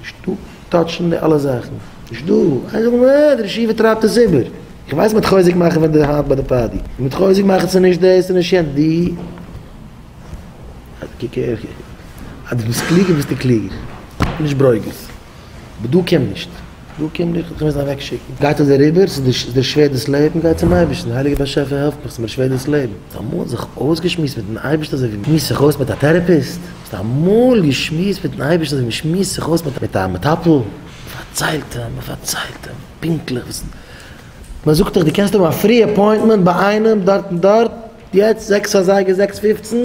נישט דא טאטשן די אלע זאכן, נישט דא איינער זאל מיר אה די רעשיווע טרייבט עס איבער, איך ווייס מען האט חוזק מאכן ווען די האנט ביי די פאדי, מען האט חוזק מאכן ס'איז נישט דאס ס'איז נישט יענץ די אז קוק איך אז דו ביסט קלוגער ביסטו קלוגער נישט ברוגז אבער דא קום נישט דא קום נישט איך וועל עס אוועק שיקן גייט עס אריבער ס'איז דיר שווער דאס לעבן גיי צום אייבערשטן הייליגער באשעפער העלף מיך ס'איז מיר שווער דאס לעבן האסט אמאל זיך אויסגעשמועסט מיטן אייבערשטן אזוי ווי מ'שמועסט זיך אויס מיט א טערעפיסט? האסט אמאל געשמועסט מיטן אייבערשטן אזוי ווי מ'שמועסט זיך אויס מיט א מטפל? מ'פארציילט אים, מ'פארציילט אים פונקטליך וואס. מ'זאגט דיך דו קענסט האבן א פרי אפוינטמענט ביי איינעם דארט און דארט יעצט זעקס אזייגער זעקס פופצן,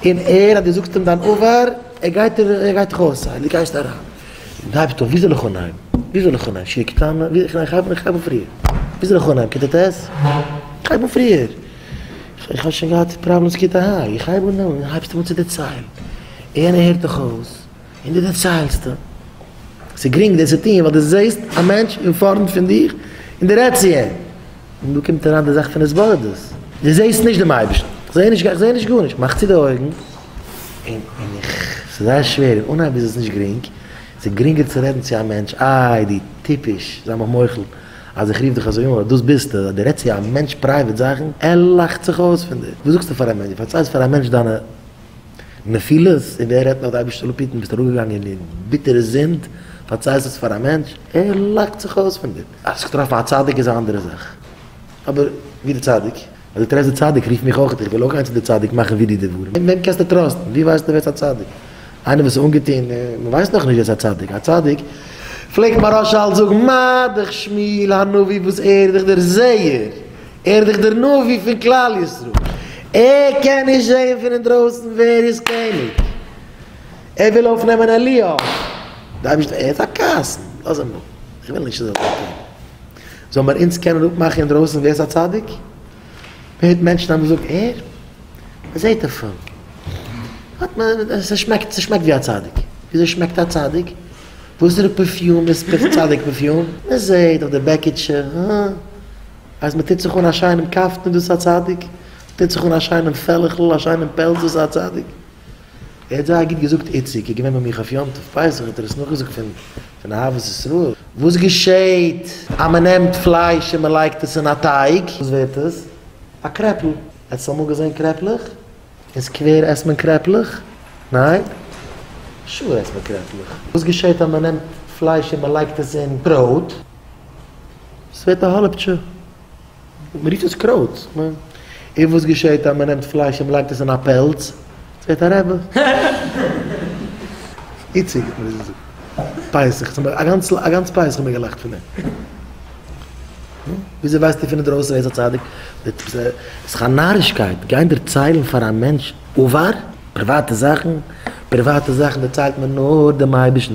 און ער אז דו זאגסט אים דיין עבר, ער גייט ער גייט דיך אויסציילן, דו גייסט אריין און דייווסט אויף ווי זאל איך אנהייבן? ווי זאל איך אנהייבן? שיר קטנה? איך הייב אן פריער. ווי זאל איך אנהייבן? כיתה ט'? איך הייב אן פריער. איך האב שוין געהאט פראבלעמס קיט א היי, איך הייב אן און הייבסט אן צו דערציילן, איינער הערט דיך אויס און דו דערציילסט, ס'איז גרינג דאס צו טון ווייל דו זעהסט א מענטש אין פארנט פון דיר און דו רעדסט צו אים, און דא קומט אריין די זאך פון התבודדות, דו זעהסט נישט דעם אייבערשטן, איך זעה נישט, איך זעה נישט גארנישט, מאך צו די אויגן, און איך, ס'איז זייער שווער, אין אנהייב איז עס נישט גרינג, ס'איז גרינגער צו רעדן צו א מענטש, איי דו טיפש, זיי מיך מוחל. אז איך רוף דיך אזוי אן ווייל דאס ביסטו, אז דו רעדסט צו א מענטש פרייוועט זאכן, ער לאכט זיך אויס פון דיר. וואס זאגסטו פאר א מענטש? דו פארציילסט פאר א מענטש דיינע נפילות, און ווער רעדט נאך די אייבערשטע לפיתן, ביסט אראפגעגאנגען אין ביטערע זינד, פארציילסט עס פאר א מענטש, ער לאכט זיך אויס פון דיר. האסט זיך געטראפן א צדיק איז א אנדערע זאך, אבער ווי די צדיק? אדער טרעפסט די צדיק רוף מיך אויך איך וויל אויך גיין צו די צדיק מאכן ווי דיר די דברים אין וועם קענסטו טראסטן ווי ווייסטו ווער ס'א צדיק איינער וואס איז אנגעטון מען ווייסט נאך נישט ווער ס'א צדיק א צדיק פלעגט מהרשל זאגן מדכ שמואל הנביא וואס ער איז דאך דער זעהער ער איז דאך דער נביא פון כלל ישראל ער קען נישט זעהן פון אינדרויסן ווער איז קעניג ער וויל אויפנעמען אליהו די אייבערשטער ער איז א קאסן לאז אים נאר איך וויל נישט ער זאל זיין קעניג. זאל מיר אונז קענען אפמאכן אינדרויסן ווער איז א צדיק? מען הערט מענטשן האבן געזאגט ער? מען זעט אויף אים האט מען ס'שמעקט ס'שמעקט ווי א צדיק. וויאזוי שמעקט א צדיק? וואסערע פערפיום איז צדיק פערפיום? מען זעט אויף די בעקיטשע הא אז מען טוט זיך אן א שיינעם קאפטן איז דאס א צדיק? מען טוט זיך אן א שיינעם פעלעכ'ל א שיינעם פעלז איז דאס א צדיק? ער האט זייער גוט געזאגט איציק איז געווען ביי מיך אויף יום טוב פסח האט ער עס נאכגעזאגט פון פון אהבת ישראל וואס געשעהט אז מען נעמט פלייש און מען לייגט עס אין א טייג וואס ווערט עס? א קרעפל האסט אמאל געזעהן קרעפלעך? אין סקווער עסט מען קרעפלעך? ניין? שור עסט מען קרעפלעך וואס געשעהט אז מען נעמט פלייש און מען לייגט עס אין ברויט? עס ווערט א האלעפטשע. מען רופט עס קרויט. און וואס געשעהט אז מען נעמט פלייש און מען לייגט עס אין א פעלץ? עס ווערט א רעבע. איציק, מען איז פסח, א גאנץ א גאנץ פסח האט מען געלאכט פון אים. וויאזוי ווייסטו פון אינדרויסן ער איז א צדיק? עס איז א נארישקייט גיין דערציילן פאר א מענטש עבר, פריוואטע זאכן, פריוואטע זאכן דערציילט מען נאר דעם אייבערשטן,